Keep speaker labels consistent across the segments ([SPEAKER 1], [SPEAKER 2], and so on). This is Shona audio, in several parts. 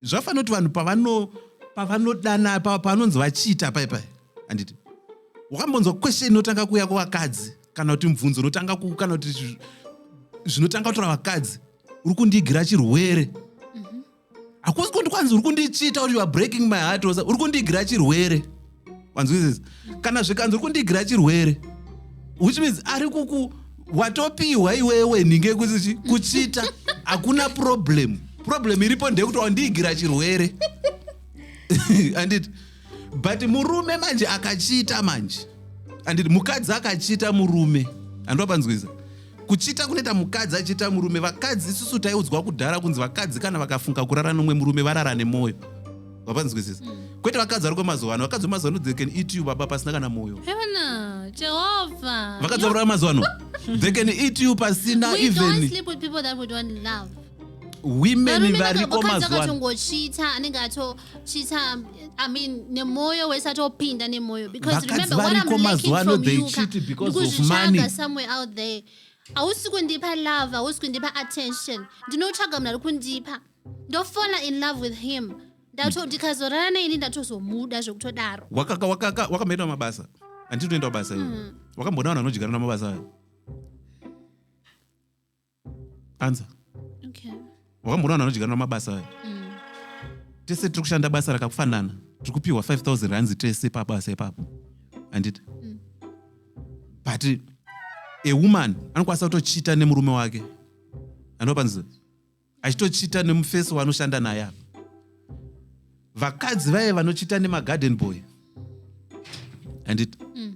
[SPEAKER 1] zvafanira kuti vanhu pavano pavanodana pavanonzi vachiita paipai handiti wakambonzwa question inotanga kuuya kuvakadzi kana kuti mubvunzo unotanga ku kana kuti zvinotanga kutora vakadzi uri kundiigira chirwere mhm. hakusi kundi kwanzi uri kundichiita kuti youare breaking my heart uri kundiigira chirwere mm -hmm. wanzwisisa kana zvikanzi uri kundiigira chirwere which means ari kuku watopiwa iwewe nhinge kuzichi kuchita hakuna problem problem iripo ndeyekuti wandiigira chirwere anditi but murume manje akachita manje anditi mukadzi akachita murume handiwa panzwiza kuchita kunoita mukadzi achiita murume vakadzi isusu taiudzwa kudhara kunzi vakadzi kana vakafunga kurara nomwe murume varara nemwoyo vapanzwisisa mm. kwete vakadzi vari kwemazuva ano vakadzi vemazuva ano they can eat you baba pasina kana moyo
[SPEAKER 2] vakadzi vakurava mazuva ano
[SPEAKER 1] they can eat you pasina even
[SPEAKER 2] women
[SPEAKER 1] variko mazuvaakatongochita anenge
[SPEAKER 2] atochita i mean nemoyo wese atopinda nemoyo because remember
[SPEAKER 1] what
[SPEAKER 2] i'm lacking
[SPEAKER 1] from
[SPEAKER 2] you ndikuzvitsvaga
[SPEAKER 1] somewhere out there
[SPEAKER 2] hausi kundipa love hausi kundipa attention ndinotsvaga munhu ari kundipa ndofona in love with him ndato ndikazorara naye ini ndatozomuda zvekutodaro wakaka wakaka wakamboenda
[SPEAKER 1] mabasa anditi unoenda mabasa iwe Mm. wakamboona vanhu vanodyara namabasa ayo anza
[SPEAKER 2] okay wakamboona vanhu
[SPEAKER 1] vanodyara namabasa ayo mm. tese tiri kushanda basa rakafanana tiri kupiwa 5000 rands tese pabasa ipapo anditi Mm. but a woman anokwanisa kutochita nemurume wake anopanzi achitochita nemufesi waanoshanda naye apa vakadzi vaye vanochita nemagarden boy and it mm.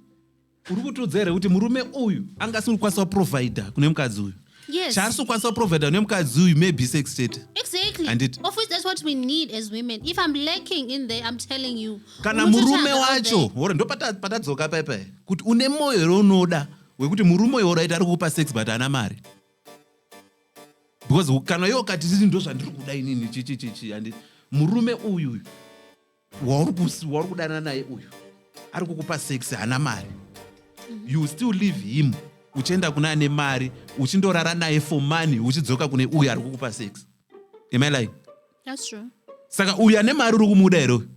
[SPEAKER 1] uri kutiudza here kuti murume uyu anga asiri kukwanisa kuprovidha kune mukadzi uyu yes. chaari sikukwanisa
[SPEAKER 2] kuprovidha
[SPEAKER 1] kune mukadzi uyu maybe sex chete exactly. and it of
[SPEAKER 2] which that's what
[SPEAKER 1] we need
[SPEAKER 2] as women if i'm lacking in there i'm telling you kana murume
[SPEAKER 1] wacho
[SPEAKER 2] hore
[SPEAKER 1] ndo
[SPEAKER 2] patadzoka
[SPEAKER 1] paipai kuti une moyo here unoda wekuti murume uyo uraita ari kukupa sex but ana mari because kana iwe ukati sisi ndo zvandiri kuda inini chichichichi handi murume uyu uyu wauri kudanana naye uyu ari kukupa sex haana mari you still leave him uchienda kuna ane mari uchindorara naye for money uchidzoka kune uyu ari kukupa sex am i lying
[SPEAKER 2] saka uyu ane
[SPEAKER 1] mari uri kumuda here uyu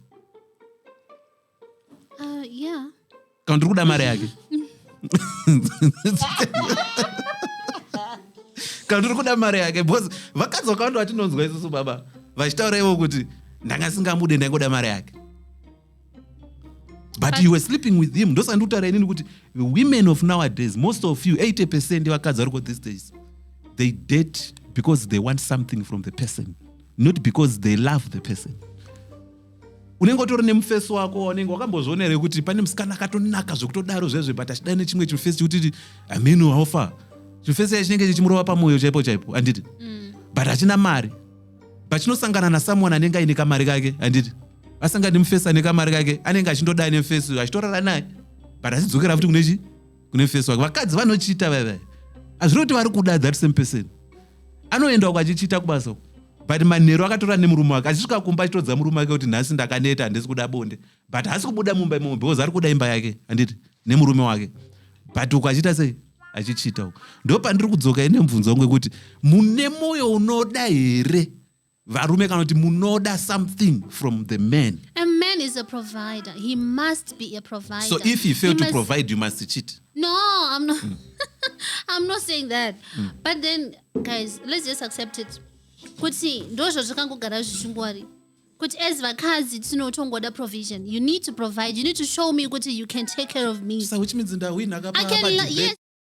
[SPEAKER 1] Uh,
[SPEAKER 2] yeah. kana ndiri kuda
[SPEAKER 1] mari yake kana ndiri kuda mari yake bcause vakadzi vakawanda vatinonzwa isusu baba vachitaura ivo kuti ndanga singamude ndaingoda mari yake but you were sleeping with him ndosaka ndikutaura inini kuti women of nowadays most of you 80 percent vakadzi variko these days they date because they want something from the person not because they love the person unenge utori nemufesi wako waunenge wakambozviona here kuti pane musikana akatonaka zvekutodaro zvezve but achidai nechimwe chimufesi chekuti aminu haufa chimufesi chai chinenge chichimurova pamwoyo chaipo chaipo handiti mm. but hachina mari but chinosangana nasomeone anenge aine kamari kake handiti asangani mufesi ane kamari kake anenge achindodai nemufesi uyo achitorara naye but achidzokera futi kune chii kune face wake vakadzi vanochita vaiva hazviri kuti vari kuda that same person anoenda uko achichita kubasa uko but manheru akatora nemurume wake achisvika kumba achitodza murume wake kuti nhasi ndakaneta handisi kuda bonde but haasi kubuda mumba imomo because ari kuda imba yake handiti nemurume wake but uko achiita sei achichita uko ndo pandiri kudzoka ine mubvunzo wangu wekuti mune mwoyo unoda here varume kana kuti munoda something from the man a man is a
[SPEAKER 2] provider he must be a provider so if he fail he to must...
[SPEAKER 1] provide you must cheat no i'm
[SPEAKER 2] not mm. i'm not saying that mm. but then guys let's just accept it kuti ndozvo zvakangogara zvichingwari kuti as vakadzi tinotongoda provision you need to provide you
[SPEAKER 1] need
[SPEAKER 2] to show me kuti you
[SPEAKER 1] can
[SPEAKER 2] take care of me so which
[SPEAKER 1] means
[SPEAKER 2] ndawinhaka yes